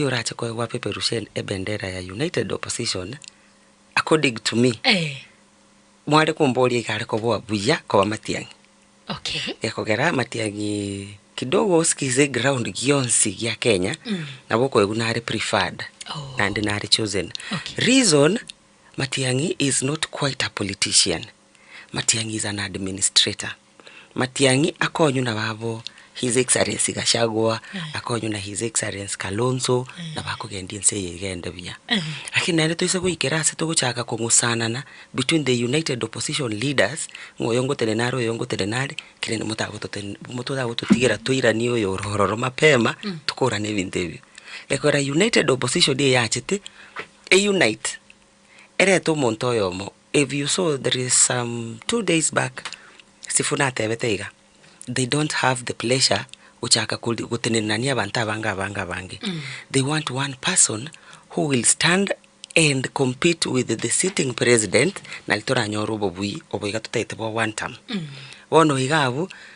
Oyio orache koegwa apeperushene ebendera ya united opposition according to me mware komboria iga are koboa buya koba matiang'i. Okay. Gekogera amatiang'i kidogo osikize eground gionsi gia Kenya mm. nabo okoegwa nare preferred oh. nande nare chosen. Okay. Reason Matiang'i is not quite a politician. Matiang'i is an administrator. Matiang'i akonywa na babo His Excellency Gachagua, akonywa na His Excellency Kalonzo, nabakogendia ense eye egende buya. Lakini naende toise goikera ase togochaka kong'usanana between the united opposition leaders, ng'a oyo ngotenena are, oyo ngotenena are, keri ere motagototenena motagototigera toiranie oyo ore ororo mapema, tokorane ebinto ebio. Ekero opposition eye yachete, e unite. Erete omonto oyomo, if you saw there is some two days back, Sifuna atebete iga, they don't have the pleasure gochaka kori gotenenania abanto abange abange abange, they want one person who will stand and compete with the sitting president, nari toranyore obobui obo iga totaete bwa one term. Bono iga abwo,